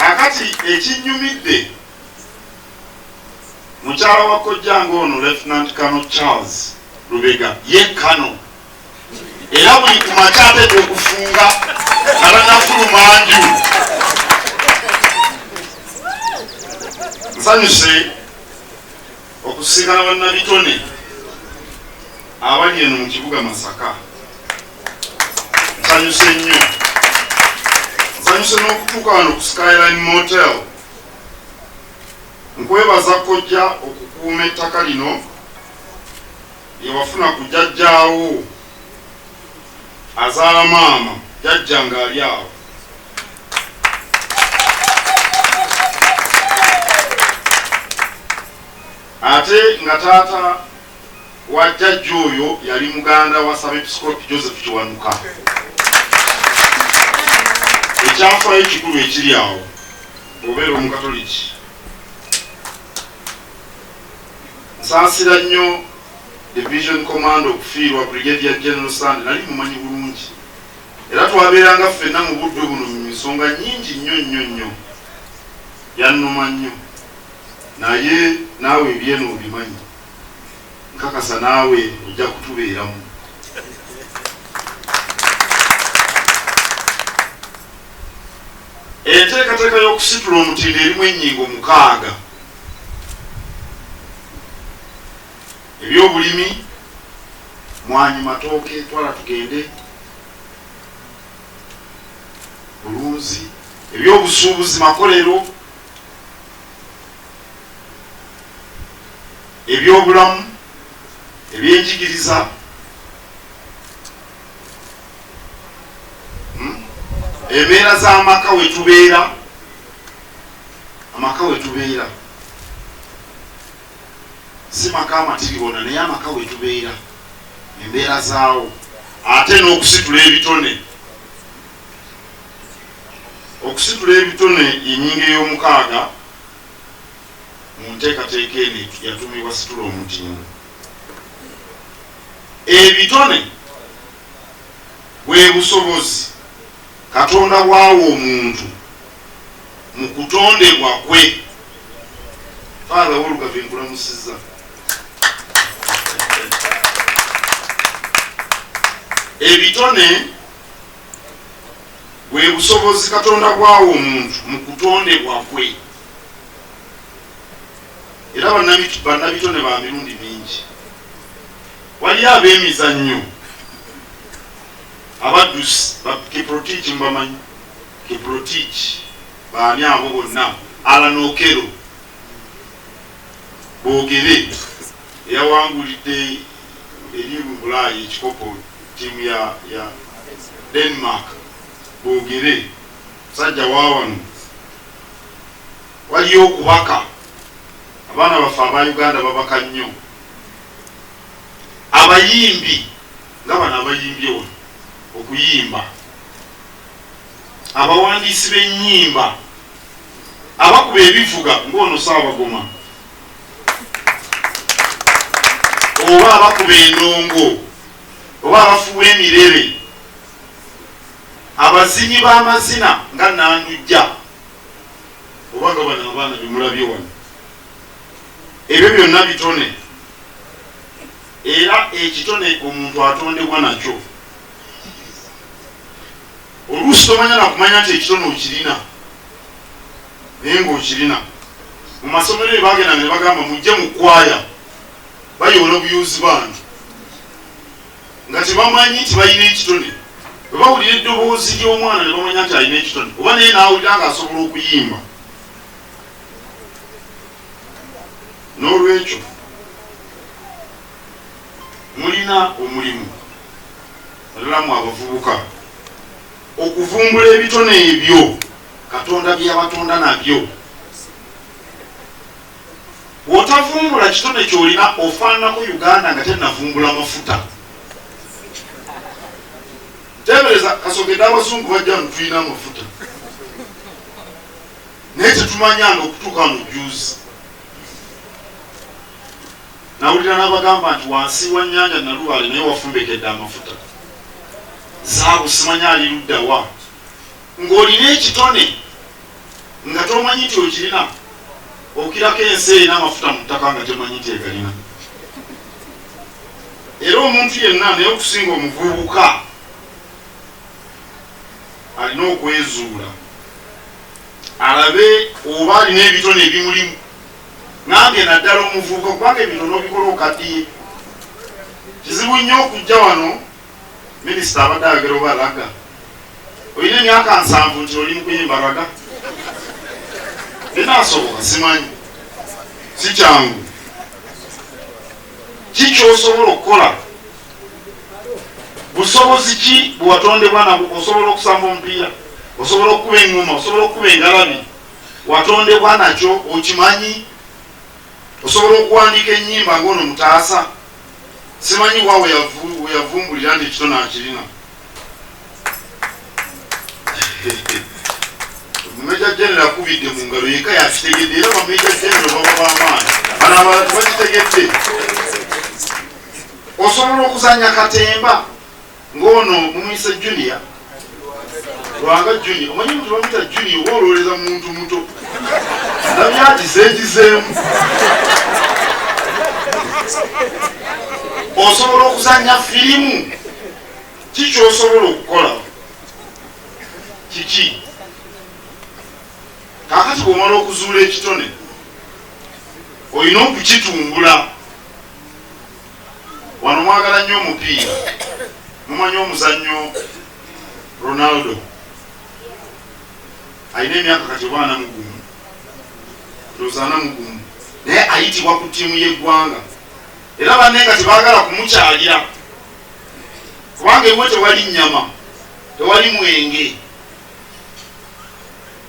kakati ekinyumidde mukyala wa kojjanga ono lieutenant kano charles lubega ye kano era buli ku makya ateeka okufunga alanafuluma nju nsanyuse okusinkana bannabitone abali eno mu kibuga masaka nsanyuse nnyo nsanyuse n'okutuuka wano ku skyline motel nkwebaza kojja okukuuma ettaka lino yewafuna ku jajjaawo azaala maama jajja ng'ali awo ate nga taata wa jjajja oyo yali muganda wa Sabepiskoopi Joseph Kiwanuka. Ekyafaayo ekikulu ekiri awo bw'obeera Omukatoliki, nsaasira nnyo Division Commander okufiirwa Brigadier General Sande, nali mumanyi bulungi era twabeeranga ffenna mu budde buno mu nsonga nnyingi nnyo nnyo nnyo. Yannuma nnyo naye naawe ebyeno obimanyi. nkakasa naawe ojja kutubeeramu. Enteekateeka y'okusitula omutindo erimu ennyingo mukaaga, ebyobulimi, mwanyi, matooke, twala tugende, bulunzi, ebyobusuubuzi, makolero, ebyobulamu ebyenjigiriza hmm? embeera z'amaka wetubeera amaka wetubeera si maka amatiribona naye amaka wetubeera embeera zaawo ate n'okusitula ebitone Okusitula ebitone y'ennyingo ey'omukaaga mu nteekateeka eno eyatuumibwa Situla Omutindo. Ebitone bwe busobozi Katonda bw'awa omuntu mu kutondebwa kwe. Father Walugave nkulamusizza. Ebitone bwe busobozi katonda bwawa omuntu mu kutondebwa kwe era bannabitone ba mirundi mingi waliyo ab'emizannyo abaddusi bakiprotiki mubamanyi kiprotiki baani abo bonna alanokero boogere eyawangulidde eri mu bulaayi ekikopo Ttiimu ya ya Denmark boogere. Musajja wa wano, waliyo okubaka. Abaana baffe aba Uganda babaka nnyo. Abayimbi nga bano abayimbye wano okuyimba, abawandiisi b'ennyimba, abakuba ebivuga ng'ono Ssaabagoma. oba abakuba endongo oba abafuwa emirebe abazinyi b'amazina nga nandujja oba nga bano abaana bemulabye wano ebyo byonna bitone era ekitone omuntu atondebwa nakyo oluusi tomanya nakumanya nti ekitone okirina naye ng'okirina mu masomero eyo bagendanga ne bagamba mujje mu kkwaaya bayoola obuyuuzi bantu nga tebamanyi nti balina ekitone bwe bawulira eddoboozi ly'omwana ne bamanya nti alina ekitone oba naye n'awulira nga asobola okuyimba n'olwekyo mulina omulimu alalamu abavubuka okuvumbula ebitone ebyo katonda byeyabatonda nabyo wotavumbula kitone kyolina ofaananako uganda nga tenavumbula mafuta tebereza kasogede abazungu bajja nutulina amafuta naye tetumanyanga okutuuka mujuzi nawulira nabagamba nti wansi wa nyanja naluwale naye wafumbekedde amafuta zaabu simanya aliluddawa Ng'olina ekitone nga tomanyi nti okirina, okirako ensi erina amafuta mu ttaka nga temanyi nti egalina. Era omuntu yenna, naye okusinga omuvubuka, alina okwezuula alabe oba alina ebitone ebimulimu, nange naddala omuvubuka, kubanga ebitono obikola okaddiye. Kizibu nnyo okujja wano. Minisita abadde ayogera oba laga olina emyaka nsanvu nti oli mukuyimba laga enasoboka simanyi sikyangu kikyosobola okukola busobozi ki bwewatondebwa nabwo osobola okusamba omupiira osobola okukuba engoma osobola okukuba engalabi watondebwa nakyo okimanyi osobola okuwandiika enyimba ngaono mutaasa Simanyi wa we yavumbulira nti ekitone akirina. Meja General akubidde mu ngalo yekka yakitegedde era ba Meja General baba b'amaanyi. Bano abalala tebakitegedde. Osobola okuzannya katemba. Ng'ono mumuyise Junior Lwanga Junior. Omanyi omuntu bamuyita Junior oba olowoleza muntu muto. Ndabye agizeegizeemu. Osobola okuzannya firimu? Ki ky'osobola okukola? Kiki? Kaakati bw'omala okuzuula ekitone, olina okukitumbula. Wano mwagala nnyo omupiira, mumanyi omuzannyo Ronaldo alina emyaka kati oba ana mugumu ndowooza ana mugumu, naye ayitibwa ku ttiimu y'eggwanga era banne nga tebaagala kumukyalira kubanga ewe tewali nnyama tewali mwenge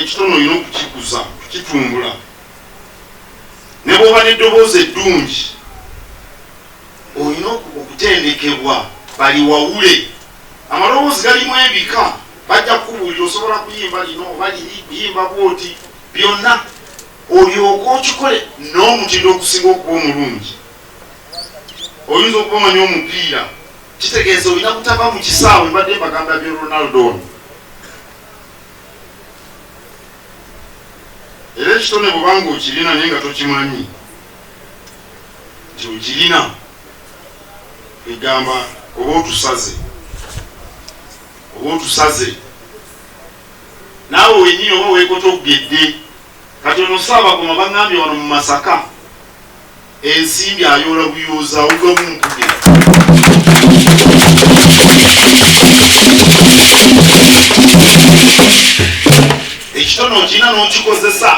ekitono olina okukikuza kukitumbula ne bwoba n'eddoboozi eddungi olina okutendekebwa bali wawule amaloboozi galimu ebika bajja kukubuulira osobola kuyimba lino oba liri kuyimba bwoti byonna olyoka okikole n'omutindo ogusinga okuba omulungi oyinza okuba omanyi omupiira kitegeeza olina kutava mu kisaawe mbadde mbagamba byo ronaldo ono era ekitone bwubanga okirina naye nga tokimanyi nti okirina egamba oba otusaze oba otusaze naawe wenyini oba wekota okugedde kati ono saabagoma bagambye wano mu masaka ensimbi ayoola buyooza awuga bunkuge ekitono okirina n'okikozesa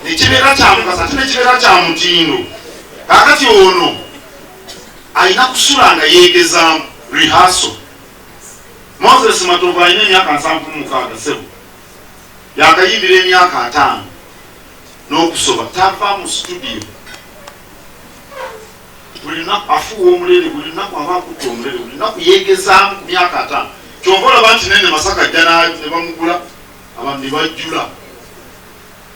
nekibeera kyamukasa ate nekibeera kya mutindo kakati ono alina kusula nga yeegezaamu rihaso moses matovu alina emyaka nsanvu mukaaga sebo yakayimbira emyaka ataano n'okusoma tava mu situdiyo buli lunaku afuuwa omulere buli lunaku aba akutta omulere buli lunaku yeegezaamu ku myaka ataano kyova olaba nti naye ne masaka jjana ne bamugula abantu ne bajjula